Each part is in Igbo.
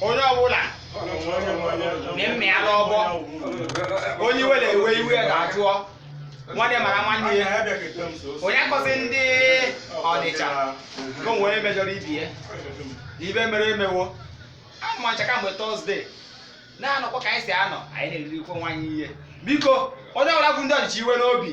onye ọbụla na-eme ya n'ọgbọ onye iwe na-ewe iwe ya ga-ajụọ nwanne mara nwanne ya onye akọzi ndị ọnịcha ka o nwere onye mejọrọ ibe ya na ibe mere emewo anụ ma ncha kamgbe Thursday na-anọkwa ka anyị si anọ anyị na-eriri ikwe nwaanyị ihe biko onye ọbụla bụ ndị ọnịcha iwe n'obi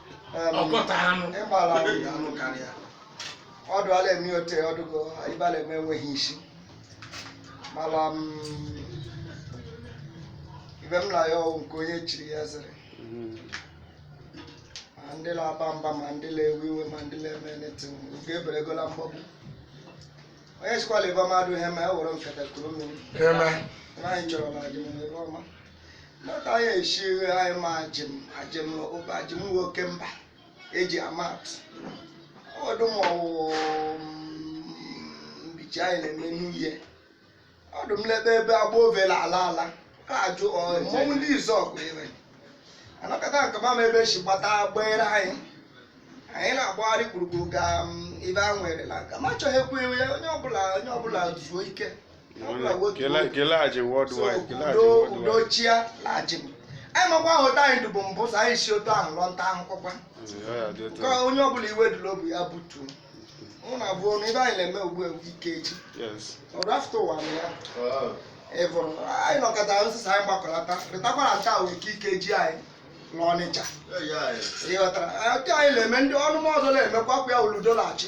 Em, ọkọta anụ ịgbara ahụ ya anụ karịa ọdụ ala eme ote ọdụgo ibe a la-eme enweghị isi mana ibe m na-ayọ wụ nke onye chiri ya zere ma ndị na-aba mba ma ndị na-ewe iwe ma ndị na-eme nothing oge eberegola mgbọgbu onye sikwala ibe mmadụ ihe ma e were nkata kuru mmiri eme Ihe anyị chọrọ na Ajim ibe ọma n'aka anyị esi anyị ma Ajim Ajim ụba Ajim nwoke mba eji ama atụ ọ dụ mma ọ wụ mbichi anyị na-eme n'ihe ọdụ m lebe ebe agba ovela ala ala a ajụ ọ mmọnwụ ndị Izuogu ire anọkọta nke mama ebe si gbata gbere anyị anyị na-agbagharị gburugburu ka m, ibe a nwere na nka ma chọghị ekwu iwe onye ọbụla onye ọbụla zuo ike kele Ajim worldwide kele Ajim udo worldwide udo chịa la Ajim anyị makwa ahụ otu anyị dụbu mbụ so anyị si otu ahụ lọ nta ahụkwa Mm, ọ ya dị otu ka a. onye ọbụla iwe dị la obi ya butuo mụ na abụọ na ibe anyị na-eme ugbu a bụ Ikeji Yes. o ru afọ ụwa na ya ị bụrụ anyị nọkọta nsịsa anyị gbakọlata rịtakwara nta wee Ikeji anyị n'ọnịcha ịghọtara otu anyị na-eme ndị ọnụmọzọ na-emekwa kwa ya oludo na-achị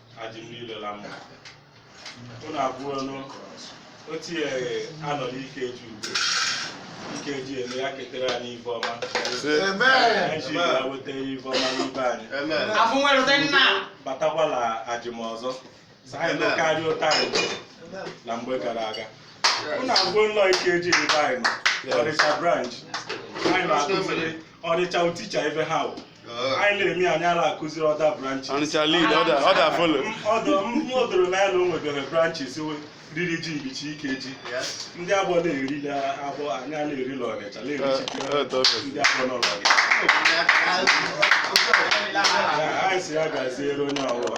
Ajim niile na mma unu abụọ nụ ote anyị nọ n'Ikeji ugbu a Ikeji eme ya ketere anyị ife ọma anyị ji ya weta ife ọma n'ibe anyị afụ nwere ụdị nna batakwala Ajim ọzọ sị anyị nọ karịa otu anyị nọ mgbe gara aga unu abụọ nnọọ Ikeji ebe anyị nọ ọnịcha branch anyị na-akụziri ọnịcha uticha ife ha wụ anyị na-eme ya anyị la-akụziri other branches Ọnịcha lead, other- others follow. ọdụ m o doro anya na o nwebere branches we- riri ji mbichi Ikeji ndị agbọ na-eri la agbọ anyị a na-eri la ọnịcha Eh, eh, na-erichi ndị agbọ nọ n'ọnịcha anyị si ya gaziere onye ọbụla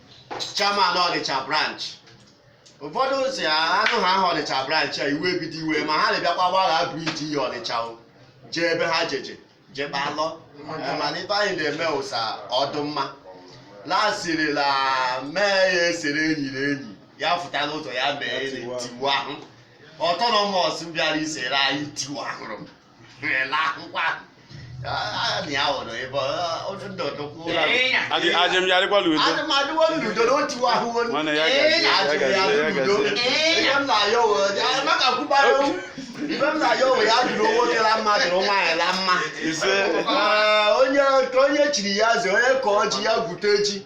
chairman ọnịcha branch ụfọdụ si anụ ha aha ọnịcha branch a iwe ebido iwe ma ha na-ebịakwa gbagha bridge iyi ọnịcha o jee ebe ha je-eje jee kpalọ Eh, mana ife anyị na-eme ụsa ọ dụ mma lasiri la mee ya esere enyi na enyi ya fụta n'ụzọ ya mee na tiwa ahụ autonomous bịara isere anyị tiwa ahụrụ m ajem ya dịkwa la udo nwanne ya gazie ya gazie ya gazie ise onye chiri ya ze onye ka ọ ji ya gwute ji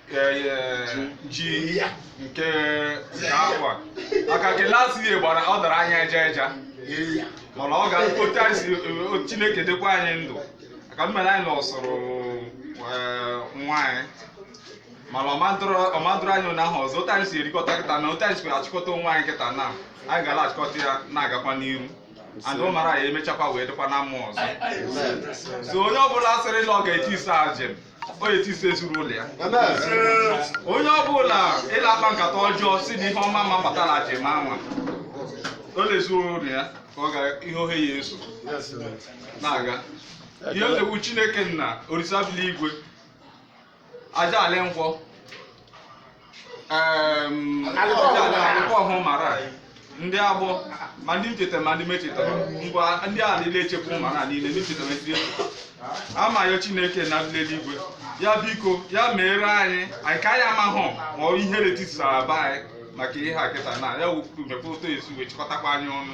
ji ya nke afọ a maka nke last year gbara ọ dara anyị eja eja mana ọ ga otu anyị si o- chineke dịkwa anyị ndụ maka mmere anyị na ọsụrụ nwa anyị mana ọmadụrụ anyị ụnyaahụ ọzọ otu anyị si erikọta kịta na otu anyị si achịkọta onwe anyị kịta na anyị gara achịkọta ya na-agakwa n'iru and ọ mara ya emechakwa wee dịkwa na mma ọzọ so onye ọbụla sịrị na ọ ga-etise ajem onye tise ezinụlọ ya onye ọbụla ị la-akpa nkata ọjọọ si na ihe ọma ma bata la ajem anwa ọ la ezinụlọ ya ka ọ gara ihe ohe ya eso na-aga ihe otegbu chineke nna orisa bi la igwe aja ala nkwọ Em, alịkọ ọhụụ mara anyị. Ndeaboh ma ndị m cheta ma ndị m echetara ngwa ndị a niile echekwa ụmara a niile ndị m cheta ma ndị echeta amaghị chineke na ndị eluigwe ya biko ya meere anyị anyị ka anyị amahụ ma ọ ihe tisara be anyị maka ihe a kịta na ya wepụta esu wee chịkọtakwa anyị ọnụ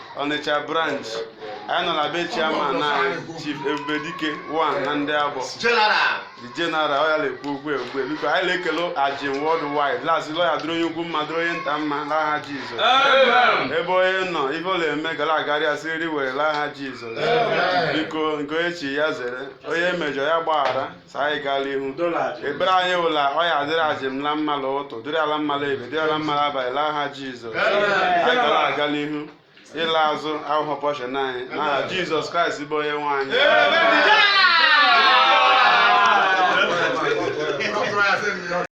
Ọnịcha branch anyị nọ na be chairman na chief Ebubedike one na Ndeaboh General. the general ọ ya na-ekwu okwu egwu biko anyị na-ekele ajem worldwide la-asị la ọ ya-adịrị onye ukwu mma dịrị onye nta mma n'aha jizọs Amen. ebe onye nọ ife ọ na-eme ga la-agara ya siri were n'aha jizọs biko nke onye chi ya zere onye mejọ ya gbaghara sị anyị gaa la ihu ekpere anyị wụ la ọ ya-adịrị ajem la mma la ụtụ dịrị a la mma la ebe dịrị a la mma la abalị la aha jizọs anyị ga la-aga n'ihu ịla azụ awụhụ pọshọn anyị n'aha jizọs kraịst bụ onye nwe anyị Amen.